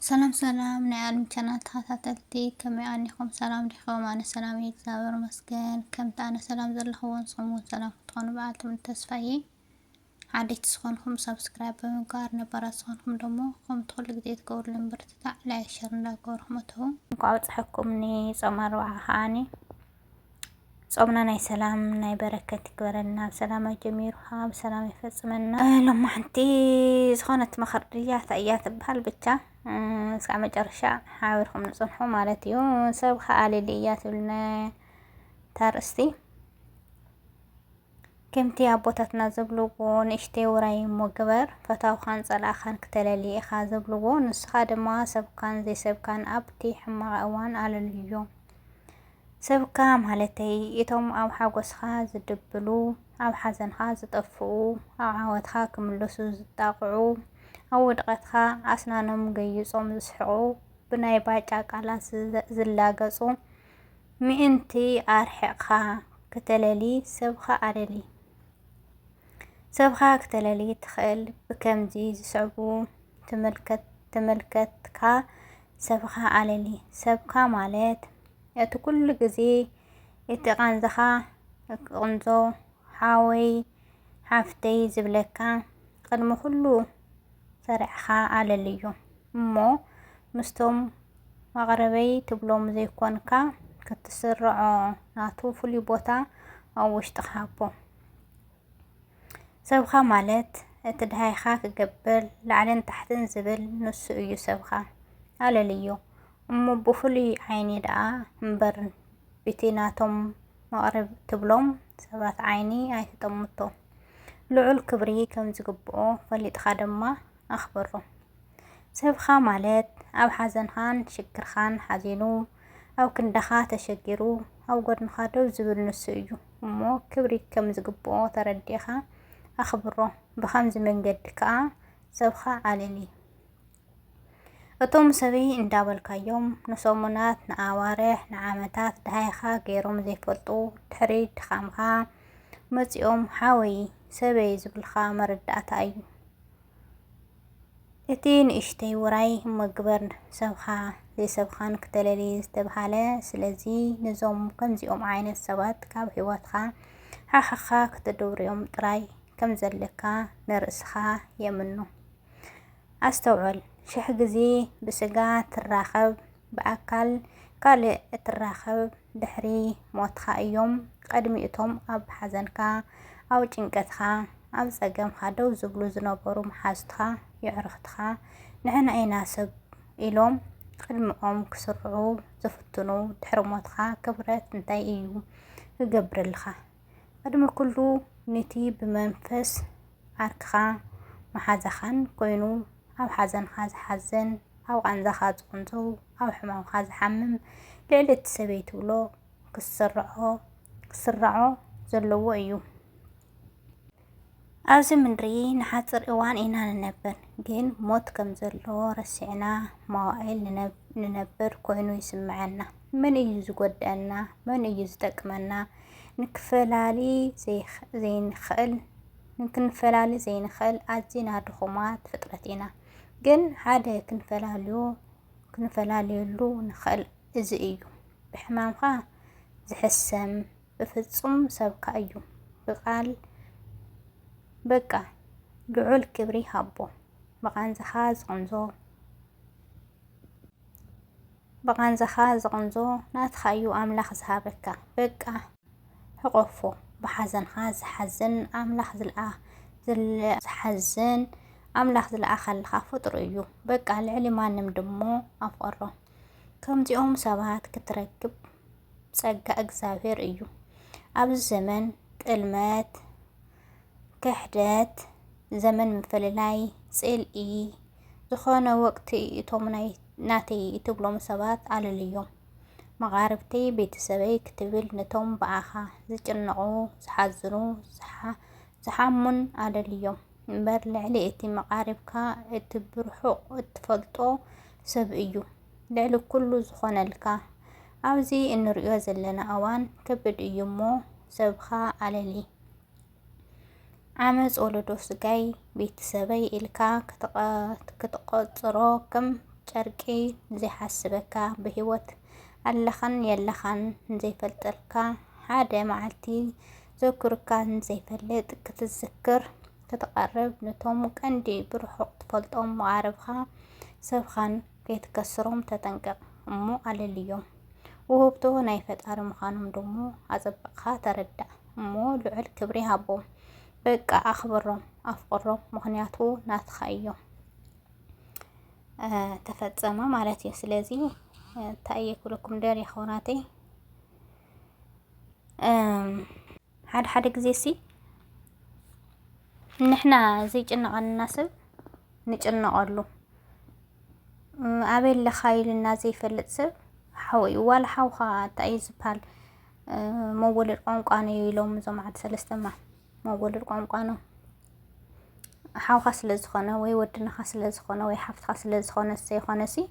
ሰላም ሰላም ናይ ኣልሚ ቻናል ተኸታተልቲ ከመይ ኣኒኹም ሰላም ዲኹም? ኣነ ሰላም እየ እግዚኣብሔር ይመስገን። ከምቲ ኣነ ሰላም ዘለኹዎ ንስኹም እውን ሰላም ክትኾኑ በዓል ትምኒት ተስፋ እየ። ሓደሽቲ ዝኾንኩም ሰብስክራይብ ብምግባር ነባራት ዝኾንኩም ደሞ ከምቲ ኩሉ ግዜ ትገብሩሉ ምብርትታዕ ላይክ ሸር እንዳገበርኩም እተው። እንኳዕ ኣብፀሐኩም ንፆም ኣርብዓ ከዓኒ ጾምና ናይ ሰላም ናይ በረከት ይግበረልና ብሰላም ኣጀሚሩ ከዓ ብሰላም ይፈፅመና ሎማ ሓንቲ ዝኾነት መኸር ድያ እንታይ እያ ትበሃል ብቻ እስካዕ መጨረሻ ሓቢርኩም ንፅንሑ ማለት እዩ ሰብ ከኣልል እያ ትብልና ታርእስቲ ከምቲ ኣቦታትና ዝብልዎ ንእሽተይ ውራይ እሞ ግበር ፈታውኻን ጸላእኻን ክተለሊ ኢኻ ዝብልዎ ንስኻ ድማ ሰብካን ዘይሰብካን ኣብቲ ሕማቕ እዋን ኣለልዮ። ሰብካ ማለተይ እቶም ኣብ ሓጎስኻ ዝድብሉ፣ ኣብ ሓዘንኻ ዝጠፍኡ፣ ኣብ ዓወትኻ ክምለሱ ዝጣቕዑ፣ ኣብ ውድቐትካ ኣስናኖም ገይጾም ዝስሕቑ፣ ብናይ ባጫ ቃላት ዝላገጹ፣ ምእንቲ ኣርሒቕካ ክተለሊ ሰብኻ ኣለሊ። ሰብኻ ክተለሊ ትኽእል ብከምዚ ዝስዕቡ ተመልከትካ ሰብኻ ኣለሊ። ሰብካ ማለት እቲ ኩሉ ግዜ እቲ ቃንዛኻ ቅንዞ ሓወይ ሓፍተይ ዝብለካ ቅድሚ ኩሉ ሰሪዕኻ ኣለልዮ እሞ ምስቶም መቕርበይ ትብሎ ምዘይኮንካ ክትስርዖ ናቱ ፍሉይ ቦታ ኣብ ውሽጥኻ ሃቦ። ሰብኻ ማለት እቲ ድሃይኻ ክገብር ላዕልን ታሕትን ዝብል ንሱ እዩ ሰብኻ ኣለልዮ እሞ ብፍሉይ ዓይኒ ደኣ እምበር ብቲ ናቶም መቕርብ ትብሎም ሰባት ዓይኒ ኣይትጠምቶ ልዑል ክብሪ ከም ዝግብኦ ፈሊጥኻ ድማ ኣኽብሮ ሰብኻ ማለት ኣብ ሓዘንኻን ሽግርኻን ሓዚኑ ኣብ ክንዳኻ ተሸጊሩ ኣብ ጎድንኻ ደው ዝብል ንሱ እዩ እሞ ክብሪ ከም ዝግብኦ ተረዲእኻ ኣኽብሮ ብኸምዚ መንገዲ ከዓ ሰብኻ ኣለሊ እቶም ሰበይ እንዳበልካዮም ንሰሙናት ንኣዋርሕ ንዓመታት ድሃይኻ ገይሮም ዘይፈልጡ ድሕሪ ድኻምኻ መፂኦም ሓወይ ሰበይ ዝብልካ መረዳእታ እዩ። እቲ ንእሽተይ ውራይ እሞ ግበር ሰብኻ ዘይሰብኻን ክተለልይ ዝተብሃለ ስለዚ ነዞም ከምዚኦም ዓይነት ሰባት ካብ ህይወትካ ሓሕኻ ክትድውርዮም ጥራይ ከም ዘለካ ንርእስኻ የምኑ ኣስተውዕል ሽሕ ግዜ ብስጋ ትራኸብ ብኣካል ካልእ እትራኸብ ድሕሪ ሞትኻ እዮም ቐድሚ እቶም ኣብ ሓዘንካ ኣብ ጭንቀትኻ ኣብ ጸገምካ ደው ዝብሉ ዝነበሩ መሓዙትካ የዕሩኽትኻ ንሕና ኢና ሰብ ኢሎም ቕድሚኦም ክስርዑ ዝፍትኑ ድሕሪ ሞትኻ ክብረት እንታይ እዩ ክገብርልኻ ቅድሚ ኩሉ ንቲ ብመንፈስ ዓርክኻ መሓዛኻን ኮይኑ ኣብ ሓዘንኻ ዝሓዝን ኣብ ቃንዛኻ ዝቕንዘው ኣብ ሕማምኻ ዝሓምም ልዕሊ እቲ ሰበይ ትብሎ ክስርዖ ዘለዎ እዩ። ኣብዚ ምድሪ ንሓፅር እዋን ኢና ንነብር፣ ግን ሞት ከም ዘለዎ ረሲዕና መዋእል ንነብር ኮይኑ ይስምዐና። መን እዩ ዝጎድኣና? መን እዩ ዝጠቅመና? ንክፈላሊ ዘይንኽእል ክንፈላሊ ዘይንኽእል ኣዝና ድኹማት ፍጥረት ኢና። ግን ሓደ ክንፈላልዮ ክንፈላልየሉ ንኽእል እዚ እዩ ብሕማምካ ዝሕሰም ብፍጹም ሰብካ እዩ ብቃል በቃ ልዑል ክብሪ ሃቦ ብቃንዛኻ ዝቅንዞ ብቃንዛኻ ዝቅንዞ ናትኻ እዩ ኣምላኽ ዝሃበካ በቃ ሕቆፎ ብሓዘንኻ ዝሓዝን ኣምላኽ ዝልኣ ዝሓዝን ኣምላኽ ዝለኣኸልኻ ፍጡር እዩ በቃ ልዕሊ ማንም ድሞ ኣፍቀሮ ከምዚኦም ሰባት ክትረክብ ጸጋ እግዚኣብሔር እዩ። ኣብዚ ዘመን ጥልመት፣ ክሕደት፣ ዘመን ምፍልላይ፣ ጽልኢ ዝኾነ ወቅቲ እቶም ናይ ናተይ እትብሎም ሰባት ኣለልዮም። መቓርብተይ ቤተሰበይ ክትብል ነቶም ብኣኻ ዝጭነቑ፣ ዝሓዝኑ፣ ዝሓሙን ኣለልዮም እምበር ልዕሊ እቲ መቓርብካ እቲ ብርሑቕ እትፈልጦ ሰብ እዩ ልዕሊ ኩሉ ዝኾነልካ። ኣብዚ እንርእዮ ዘለና እዋን ከብድ እዩ እሞ ሰብኻ ኣለሊ። ዓመጽ ወለዶ ስጋይ ቤትሰበይ ኢልካ ክትቆጽሮ ከም ጨርቂ ዘይሓስበካ ብህይወት ኣለኻን የለኻን ዘይፈልጠልካ ሓደ መዓልቲ ዘኩርካ ዘይፈልጥ ክትዝክር ክትቐርብ ነቶም ቀንዲ ብርሑቕ ትፈልጦም መቓርብኻ ሰብኻን ከይትከስሮም ተጠንቀቕ እሞ ኣለልዮም። ውህብቶ ናይ ፈጣሪ ምዃኖም ደሞ ኣጸብቕኻ ተረዳእ እሞ ልዑል ክብሪ ሃቦም። በቃ ኣኽብሮም፣ ኣፍቕሮም፣ ምኽንያቱ ናትኻ እዮም። ተፈጸመ ማለት እዩ። ስለዚ እንታይ እየ ክብለኩም ደልየ ኣሕዋተይ ሓደ ሓደ ግዜ ሲ ንሕና ዘይጭነቐንና ሰብ ንጭነቐሉ ኣበይ ኣለኻ ኢልና ዘይፈልጥ ሰብ ሓው እዩ ዋላ ሓውኻ እንታይ እዩ ዝበሃል መወለድ ቋንቋ ነው ኢሎም እዞም ዓዲ ሰለስተማ መወለድ ቋንቋ ነው ሓውካ ስለ ዝኾነ ወይ ወድንኻ ስለ ዝኾነ ወይ ሓፍትኻ ስለ ዝኾነ ዘይኾነ ሲ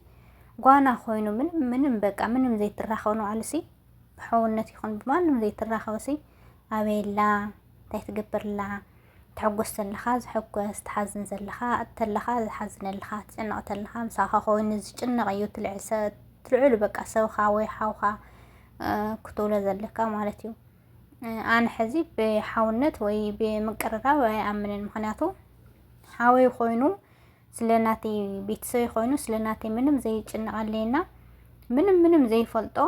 ጓና ኮይኑ ምንም ምንም በቃ ምንም ዘይትራኸኑ ኣልሲ ብሕውነት ይኹን ብማንም ዘይትራኸብሲ ኣበይ ኣላ እንታይ ትገብር ኣላ ትሕጎስ ዘለኻ ዝሕጎስ ትሓዝን ዘለኻ እተለኻ ዝሓዝነልኻ ትጭነቕ ተለኻ ምሳኻ ኮይኑ ዝጭነቕ እዩ ትልዕሉ በቃ ሰብኻ ወይ ሓውኻ ክትብሎ ዘለካ ማለት እዩ ኣነ ሕዚ ብሓውነት ወይ ብምቅርራብ ኣይኣምንን ምክንያቱ ሓወይ ኮይኑ ስለ ናተይ ቤተሰበይ ኮይኑ ስለ ናተይ ምንም ዘይጭነቐለይና ምንም ምንም ዘይፈልጦ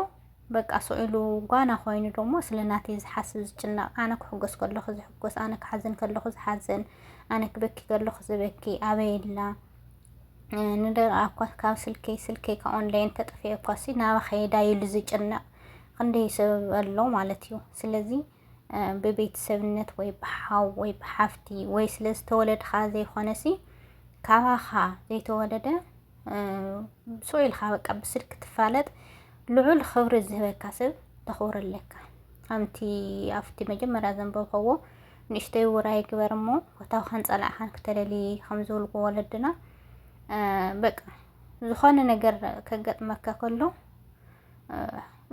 በቃ ስዕሉ ጓና ኮይኑ ደሞ ስለ ናተይ ዝሓስብ ዝጭነቕ ኣነ ክሕጎስ ከለኹ ዝሕጎስ ኣነ ክሓዝን ከለኹ ዝሓዝን ኣነ ክበኪ ከለኹ ዝበኪ ኣበይ ኣላ ንደረኣ እኳ ካብ ስልከይ ስልከይ ካብ ኦንላይን ተጠፍኤ እኳ ሲ ናባ ከየዳ ኢሉ ዝጭነቕ ክንደይ ሰብ ኣሎ ማለት እዩ ስለዚ ብቤተሰብነት ወይ ብሓው ወይ ብሓፍቲ ወይ ስለ ዝተወለድኻ ዘይኮነሲ ካባኻ ዘይተወለደ ስኡ ኢልካ በቃ ብስልክ ትፋለጥ ልዑል ክብሪ ዝህበካ ሰብ ተኽብሮ ኣለካ ከምቲ ኣብቲ መጀመርያ ዘንበብኸዎ ንእሽተይ ውራይ ግበር እሞ ወታውኻን ፀላእኻን ክተለሊ ከም ዝብልዎ ወለድና በቃ ዝኾነ ነገር ከገጥመካ ከሎ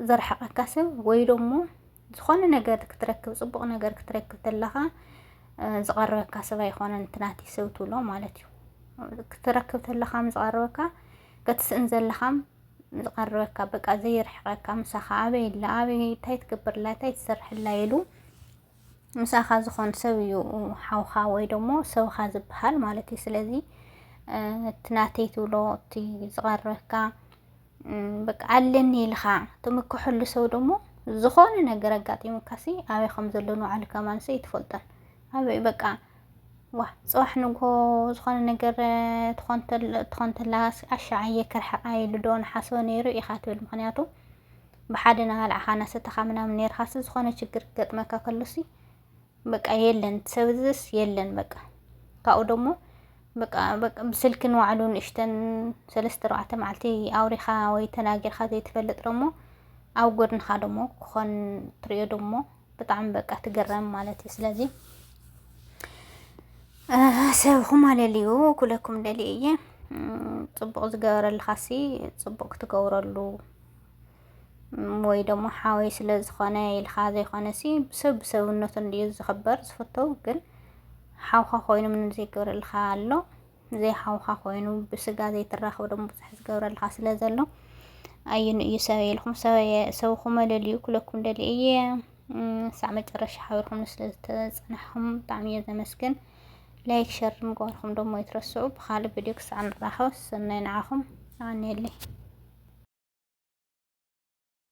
ዘርሕቐካ ሰብ ወይ ደሞ ዝኾነ ነገር ክትረክብ ፅቡቕ ነገር ክትረክብ ተለኻ ዝቐረበካ ሰብ ኣይኮነን እቲ ናተይ ሰብ ትብሎ ማለት እዩ ክትረክብ ተለኻ ዝቐረበካ ክትስእን ዘለኻ ዝቐረበካ በቃ ዘይርሕቐካ ምሳኻ ኣበይ ኣላ ኣበይ እንታይ ትገብርላ እንታይ ትሰርሕላ ኢሉ ምሳኻ ዝኾን ሰብ እዩ ሓውኻ ወይ ደሞ ሰብኻ ዝበሃል ማለት እዩ ስለዚ እቲ ናተይ ትብሎ እቲ ዝቐረበካ በቃ ኣለኒ ኢልካ ትምክሐሉ ሰው ደሞ ዝኾነ ነገር ኣጋጢሙካሲ ኣበይ ከም ዘሎ ንባዕሉ ከማንሰ ይትፈልጦን ኣበይ በቃ ዋ ፅባሕ ንግሆ ዝኾነ ነገር ትኾን ተላ ኣሻዓየ ክርሕቃ ኢሉ ዶ ንሓስቦ ነይሩ ኢኻ ትብል ምክንያቱ ብሓደ ናባልዕኻ ናሰተኻ ምናምን ነርካሲ ዝኾነ ችግር ገጥመካ ከሎሲ በቃ የለን ሰብዝስ የለን በቃ ካብኡ ደሞ በቃ በቃ ብስልኪ ንባዕሉ ንእሽተን ሰለስተ ኣርባዕተ መዓልቲ ኣውሪኻ ወይ ተናጊርካ ዘይትፈልጥ ደሞ ኣብ ጎድንኻ ደሞ ክኾን ትሪኦ ደሞ ብጣዕሚ በቃ ትግረም ማለት እዩ ስለዚ ሰብኹም ኣለልዩ ኩለኩም ደልየ እየ ፅቡቅ ዝገበረልኻሲ ፅቡቅ ክትገብረሉ ወይ ደሞ ሓወይ ስለ ዝኾነ ኢልካ ዘይኮነሲ ሰብ ብሰብነቱ እንድዩ ዝኽበር ዝፍተው ግን ሓውካ ኮይኑ ምንም ዘይገብረልካ ኣሎ ዘይሓውካ ኮይኑ ብስጋ ዘይትራኸብ ደሞ ብዙሕ ዝገብረልካ ስለ ዘሎ ኣየኑ እዩ ሰበይ ኢልኩም ሰበየ ሰብኹም መለልዩ ክለኩም ደሊ እየ ሳዕ መጨረሻ ሓቢርኩም ስለ ዝተፅናሕኹም ብጣዕሚ እየ ዘመስግን ላይክ ሸር ምግባርኩም ደሞ ይትረስዑ። ብካልእ ቪድዮ ክሳዕ ንራኸብ ሰናይ ንዓኹም። ኣኔለይ